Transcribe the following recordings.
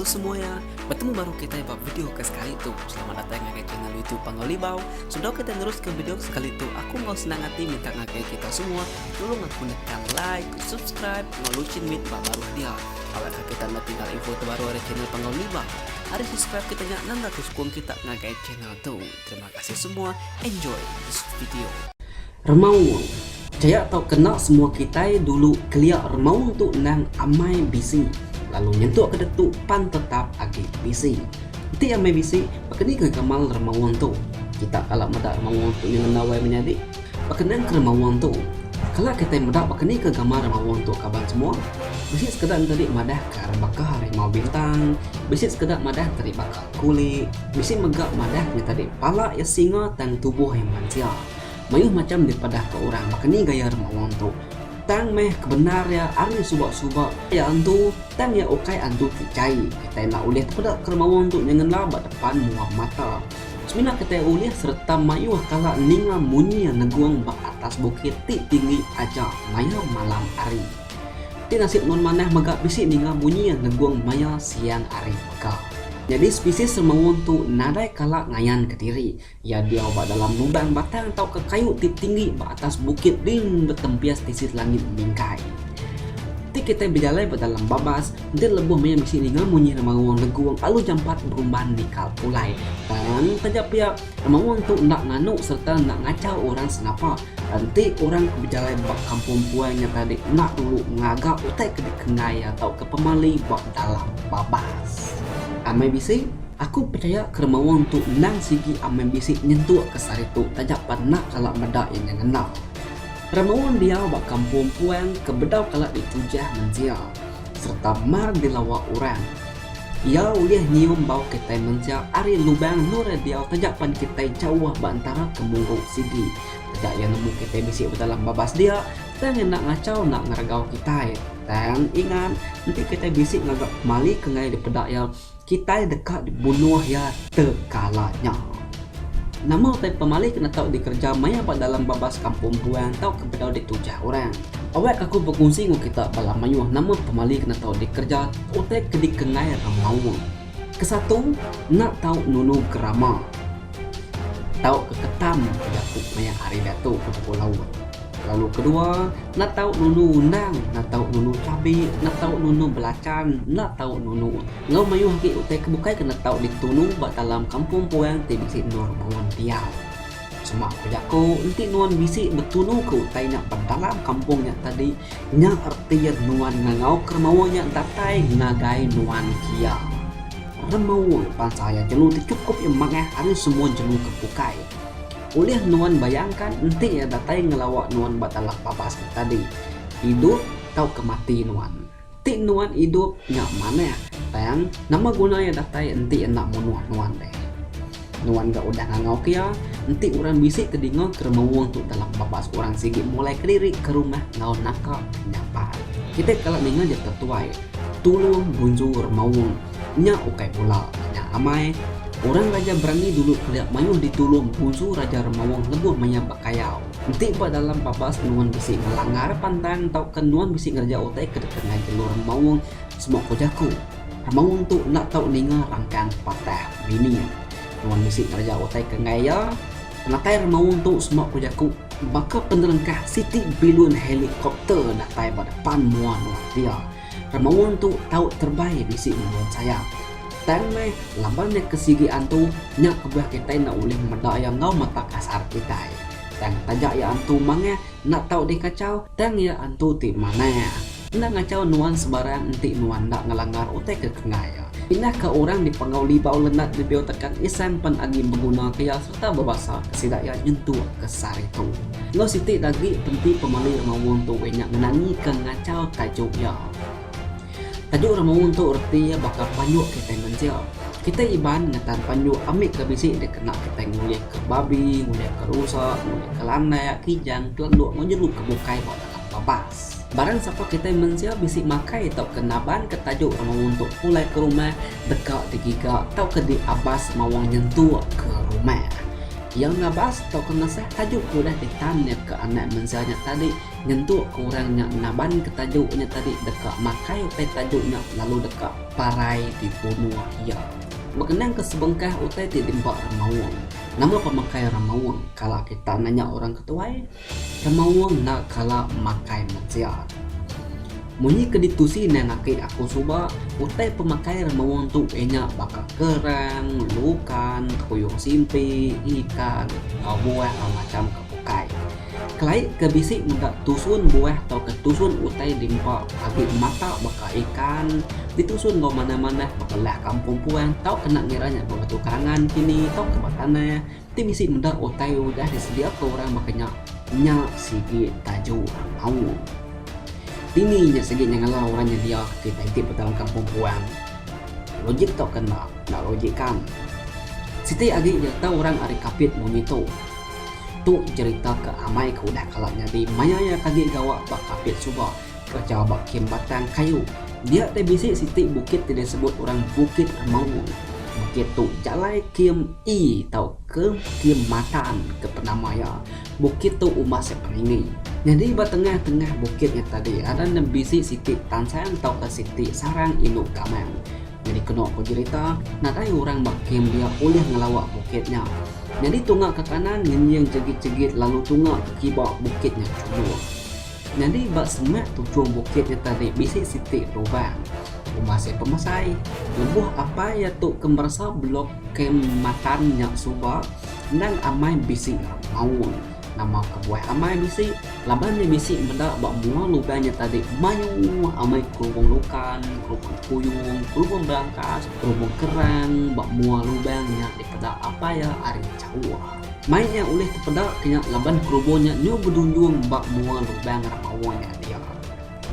Hello semuanya, bertemu baru kita buat video ke sekali tu. Selamat datang ke channel YouTube Pangau Libau. Sudah kita terus ke video ke sekali tu. Aku mau senang hati minta ngakai kita semua tolong aku tekan like, subscribe, mau lucin mit bab baru dia. Awak kita nak tinggal info terbaru dari channel Pangau Libau. Hari subscribe kita nya nanda tu sukung kita ngakai channel Tu terima kasih semua enjoy this video. Remaung. Jaya tau kena semua kitai dulu kelia remaung tu endang amai bisi lalu nyentuk ke detu pan tetap agi bisi. Enti amai bisi baka ni ke gamal remaung tu. Kita kala meda remaung tu nyengenda wai menyadi. Bekenang ke remaung tu. Kala kitai meda baka ni ke gamal remaung tu kaban semua. Bisi sekeda enti di madah ka rebaka harimau bintang, bisi sekeda madah enti di baka. Kuli, bisi mega madah ke tadi pala iya singa tang tubuh iya mensia. Mayuh macham dipadah ka orang baka ni gaya rema wong tu. Tang meh ke bendar iya ari suba suba iya antu tang iya ukai antu ti chai. Kitai enda ulih tepeda ke rema wong tu nyengen la ba depan mua mata. Semina kitai ulih sereta mayuh kala ninga munyi iya negung ba atas bukit ti tinggi aja maya malam hari. Ti nasit nuan manah mega bisi ninga munyi iya nenggung maya siang hari peka. Nyadi spesies semeung tu nadai kala ngayan kediri. Iya diau ba dalam lubang batang tauka kayu ti tinggi ba atas bukit ring betempia spesies langit mingkai. Ti kitai bejalai ba dalam babas enti lebuh maya bisi ninga munyi remaung nenggung alu jampat berumban nikal pulai tang taja pia Maung tu enda nganu sereta enda ngachau orang sengapa. Enti orang ke bejalai ba kampung empuai nya tadi enda tulu ngaga utai ke dikenggai iya tauka pemali ba dalam babas amai bisi, aku pechaya kera maung tu endang sigi amai bisi nyentuk ke sehari tu taja pan enda kala meda iya nya ngena. Kera maung diau ba kampung empuai ke bedau kala ditujah mensia sereta mar dilawa orang. Iya ulih nyium bau kitai mensia ari lubang nura diau taja pan kitai jauh ba entara ke murung sigi. Taja iya nemu kitai bisi bedalam babas dia, tang iya enda ngachau enda ngeragau kitai. Tang, ingat, enti kitai bisi ngaga pemali ke ngagai dipeda iya, kitai deka dibunuh iya tekala nya. Nama utai pemali kena tau dikereja maya ba dalam babas kampung buan tauka bedau di tujah orang? Awakka aku bekunsi enggau kita bala mayuh nama pemali kena tau dikereja utai ke dikengai orang Melaun. Kesatu, enda tau nunu gerama. Tauka ketam bejaku maya hari diatu ke buku laut. Lalu kedua, enda tau nunu undang, enda tau nunu cabi, enda tau nunu belachan, enda tau nunu utai. Enggau mayuh agi utai ke bukai kena tau ditulung ba dalam kampung puang ti bisi endur Buan Piau. Cuma ku jaku enti nuan bisi betulu ke utai nya ba dalam kampung nya tadi nya erti nuan ngangau ke remawa nya datai ngagai nuan kia. Remawa bansa iya jelu ti chukup iya manggah ari semua jelu ke bukai. Ulih nuan bayangkan enti iya datai ngelawa nuan ba dalam babas nya tadi, idup tauka mati nuan. Ti nuan idup nya manah tang nama guna iya datai enti enda munuh nuan deh. Nuan ga udah ngangauka iya enti orang bisi ke dinga keremauung tu dalam bapa seorang sigi mulai kediri ke rumah enggau naka nyapai. Kitai kala ninga ja tetuai tulung bunju remauung nya ukai pula nya amai. Orang raja berani dulu kelia mayuh ditulung bunju raja remauung lebuh maya bekayau. Enti ba dalam babas nuan bisi ngelanggar pandan tauka nuan bisi ngereja utai ke deka ngagai jelu remaung semua ko jaku, remaung tu enda tau ninga rangkang patah bini. Nuan bisi ngereja utai ke enggai iya. Penatai remaung tu semua ko jaku baka penerengkah siti bilun helikopter datai ba depan mua nuan dia. Remaun tu tau terbai bisi ngembuan sayap. Tang meh, laban nya ke sigi antu, nya kebuah kitai enda ulih meda iya enggau mata kasar kitai. Tang taja iya antu mangah, enda tau dikachau, tang iya antu ti manah. Enda ngachau nuan sebarang enti nuan enda ngelanggar utai ke kengah iya. Pindah ke orang dipegau libau lendat nebio tekan isang pan agi begunaka iya. Tang bebasa ke sida iya nyentuk ke sehari tu. Enggau siti agi enti pemali Remaung tu inya ngenangi ke ngachau tajuk iya. Tajuk Remaung tu reti iya baka panjuk kitai mensia. Kitai Iban ngetan panjuk ambi ke bisi dikena kitai ngulih ke babi, ngulih ke rusa, ngulih ke landak, kijang, kelenduk enggau jeru ke bukai ba dalam babas. Barang sapa kitai mensia bisi makai tauka naban ke tajuk Remaung tu pulai ke rumah deka digiga tauka diabas mawang nyentuk ke rumah. Iya ngabas tauka ngasah tajuk ke udah ditan iya ke anak mensia nya tadi nyentuk ke orang nya nabanka tajuk nya tadi deka makai utai tajuk nya lalu deka parai dibunuh iya. Bekenangka sebengkah utai ti diempa Remaung. Nama pemakai Remaung? Kala kita nanya orang ke tuai, Temaung enda kala makai mensia. Munyi ke ditusi endang aki aku suba, utai pemakai remaung tu inya baka kerang, lukan, kepuyung simpi, ikan enggau buah enggau macham ke bukai. Kelai ke bisi meda tusun buah tauka tusun utai diempa agi mata baka ikan ditusun enggau manah-manah baka lah kampung puan tauka enda ngira nya ba batu karangan kini tauka ba tanah. Ti bisi meda utai udah disediaka orang baka nya, nya sigi tajo orang mau. Dini nya sigi nyengela orang nyedia ti tagih ba dalam kampung puang. Logik tau ke enda? Enda logik kan. Siti agi iya tau orang ari Kapit munyi tu. Tu cherita ke amai ke udah kala nyadi maya iya kagi gawa ba Kapit suba Kacau ba kem batang kayu. Dia deh bisi siti bukit ti disebut orang Bukit Remaung. Bukit tu jalai kem E tauka kem Matan ke penama iya. Bukit tu umbas iya peninggi. Nyadi ba tengah-tengah bukit nya tadi ada ne bisi siti tansang tauka siti sarang indu gamang. Nyadi keno ku jerita, nadai orang ba kem dia ulih ngelawa bukit nya. Nyadi tunga ke kanan ngenying jegit-jegit lalu tunga ke kiba bukit nya chunuk. Nyadi ba semak tuchum bukit iya tadi bisi siti lubang. Rumah sia pemesai. Lebuh apai iya tu ke meresa blok kem matan nya suba, endang amai bisi maung. Nama kebuah amai bisi? Laban iya bisi meda ba mua lubang nya tadi mayuh amai kerubung lukan, kerubung kuyung, kerubung belangkas, kerubung kerang ba mua lubang nya dipeda apai iya ari jauh. Mai nya ulih tepeda nya laban kerubo nya nyu bedunjung ba mua lubang ra maoh nya dia.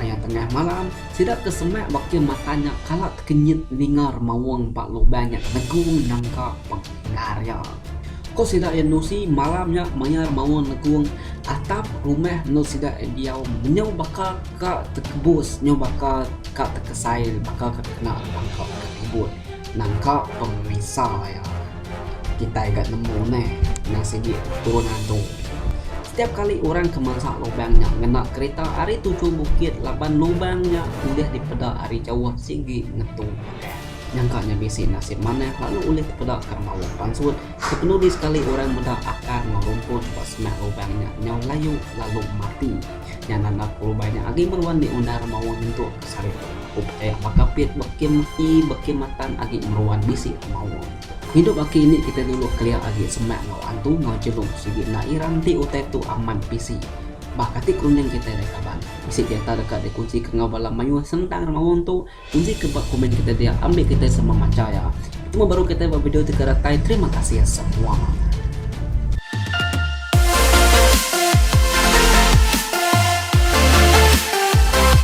Maya tengah malam, sida ke semak ba kem mata nya kala tekenyit ninga remaung ba lubang nya negung nangka pengengar iya. Ko sida iya nusi malam nya maya remaung negung atap rumah endur sida iya diau menyau baka ka tekebus nyau baka ka tekesai baka ka kena nangka ka ribut nangka pemisa iya. Kitai ga nemu meh endang sigi turun antu. Setiap kali orang ke masak lubang nya ngena kerita ari tuju bukit laban lubang nya ulih dipeda ari jauh sigi ngetu pakai. Nyangka nya bisi nasib manah lalu ulih tepeda ka maung pansut. Kepenudi sekali orang meda akar enggau rumput ba sengah lubang nya nyau layu lalu mati. Nya nanda pelubang nya agi meruan diundar maung nyentuk. Sari tu up eh baka pit beki meti beki matan agi meruan bisi maun. Hidup aki ini kitai dulu kelia agi semak enggau antu enggau jelu sigi enda ira enti utai tu amat bisi. Bah kati kerunding kitai deh kaban. Bisi cerita deka dikunsika enggau bala mayuh sentang rak maun tu kunsika ba komen kitai dia ambi kitai sama macha iya. Betemu baru kitai ba video ti ke datai terima kasih semua.